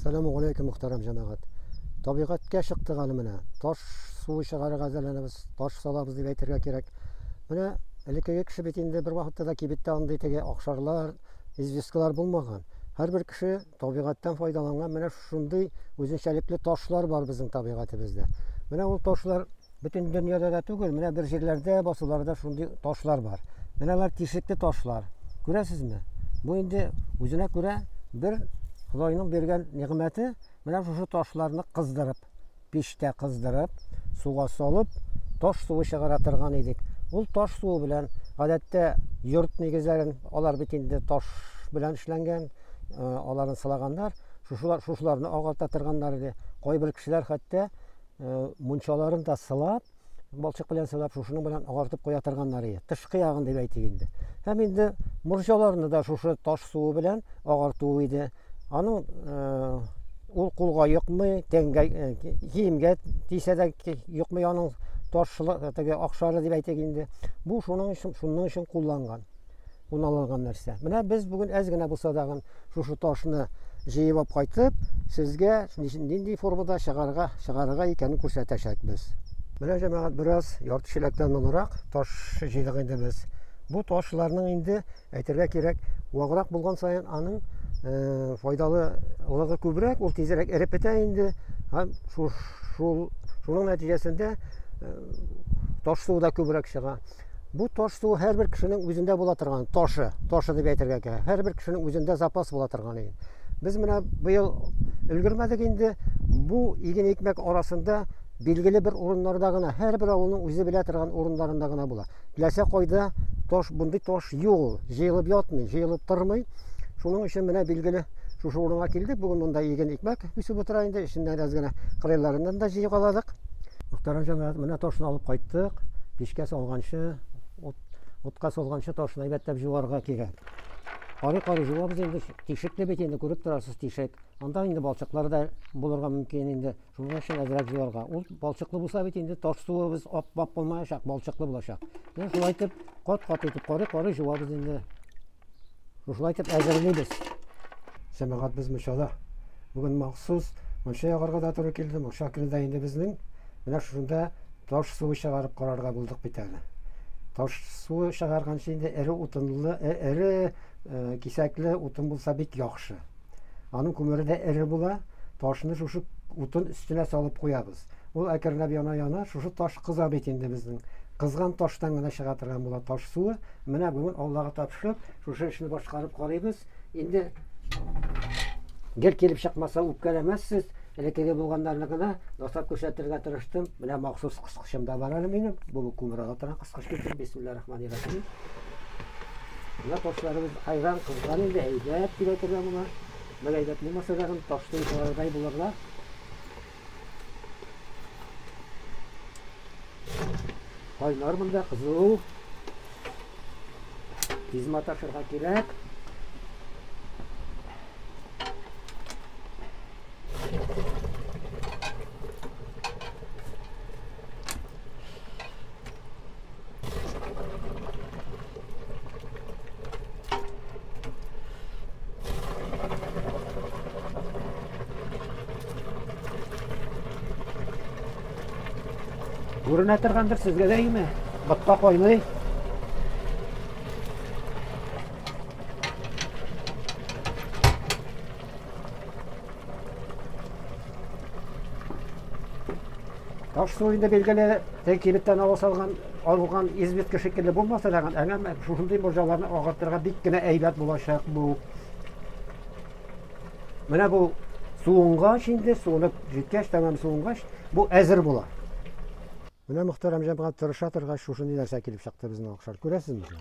Сәлам алейкум, мөхтәрәм җәмәгать. Табигатькә чыктык әле менә. Таш суы чыгарырга әзерләнәбез, таш салабыз дип әйтергә кирәк. Менә элеккеге кеше бит инде бер вакытта да кибеттә андый теге акшарлар, известкалар булмаган. Һәрбер кеше табигатьтән файдаланган. Менә шундый үзенчәлекле ташлар бар безнең табигатебездә. Менә ул ташлар Бөтен дөньяда да түгел, менә бер җирләрдә, басуларда шундый ташлар бар. Менә алар тишекле ташлар. Күрәсезме? Бу инде үзенә күрә бер Худайның биргән нигъмәте, менә шушы ташларны кыздырып, пештә кыздырып, суга салып, таш суы чыгара торган идек. Ул таш суы белән гадәттә йорт нигезләрен, алар бит инде таш белән эшләнгән, аларны сылаганнар, шушылар, шушыларны агарта торганнар иде. Кайбер кешеләр хәтта мунчаларын да сылап, балчык белән сылап, шушының белән агартып куя торганнар иде. Тышкы ягын дип әйтик инде. Һәм инде морҗаларны да шушы таш суы белән агарту иде. Аның ул кулга йокмый, тәнгә, киемгә тисә дә йокмый аның таш теге акшары дип әйтик инде. Бу шуның өчен, шуның өчен кулланган. уналган нәрсә. Менә без бүген әз генә булса дагын шушы ташны җыеп алып кайтып, сезгә нинди формада чыгарга, чыгарга икәнен күрсәтәчәкбез. Менә җәмәгать бераз ярты чиләктән моныраак таш җыйдык инде без. Бу ташларның инде әйтергә кирәк, ваграк булган саен аның э, файдалы лыгы күбрәк, ул тизрәк эреп бетә инде. Һәм шул шуның нәтиҗәсендә э, таш су да күбрәк чыга. Бу таш суы һәрбер кешенең үзендә була торган ташы, ташы дип әйтергә кирәк. Һәрбер кешенең үзендә запас була торган иген. Без менә быел өлгермәдек инде. Бу иген икмәк арасында билгеле бер урыннарда гына, һәрбер авылның үзе белә торган урындарында гына була. Теләсә кайда таш, бундый таш юк ул. Җыелып ятмый, җыелып тормый. Шуның өчен менә билгеле шушы урынга килдек. Бүген монда иген икмәк үсеп утыра инде. Эченнән әз генә кырыйларыннан да җыйгаладык. Мөхтәрәм җәмәгать, менә ташны алып кайттык. Пешкә салганчы, ут, утка салганчы ташны әйбәтләп җуарга кирәк. Кары кары җуабыз инде, тишекле бит инде, күреп торасыз тишек. Анда инде балчыклар да булырга мөмкин инде. Шуның өчен әзрәк җуарга. Ул балчыклы булса бит инде таш суыбыз ап-ап булмаячак, балчыклы булачак. Менә шулай итеп, кат-кат итеп, кары кары җуабыз инде. Шушылай итеп әзерлибез. Сәмәгать без мунчада. Бүген махсус мунча ягарга да туры килде. Мунча көне дә инде безнең. Менә шушында таш суы чыгарып карарга булдык бит әле. Таш суы чыгарганчы инде эре утынлы, э, эре э, кисәкле утын булса бик яхшы. Аның күмере дә эре була. Ташны шушы утын өстенә салып куябыз. Ул әкренләп яна-яна, шушы таш кыза бит инде безнең. Кызган таштан гына чыга торган була таш суы. Менә бүген Аллага тапшырып, шушы эшне башкарып карыйбыз. Инде гел килеп чыкмаса үпкәләмәссез, элеккеге булганнарны гына ясап күрсәтергә тырыштым. Менә махсус кыскычым да бар әле минем. Бу күмералга торган кыскыч китеп, бисмиллаһ-рахманир-рахим. Менә ташларыбыз айран кызган инде, әйбәт килә торган була. Бер әйбәт булмаса да, ташны булырга. Кайнар монда кызу. Тиз маташырга кирәк. Күренә торгандыр сезгә дә име? Ботка кайный. Таш су инде билгеле, тек кибеттән ава салган, алган известка шикелле булмаса да, әмма шушындый морҗаларны агартырга бик кенә әйбәт булачак бу. Менә бу суынгач инде, суынып җиткәч, тәмам суынгач, бу әзер була. Менә Мөхтәрәм җәмәгать тырыша торгач, шушындый нәрсә килеп чыкты безнең Акшар. Күрәсезме?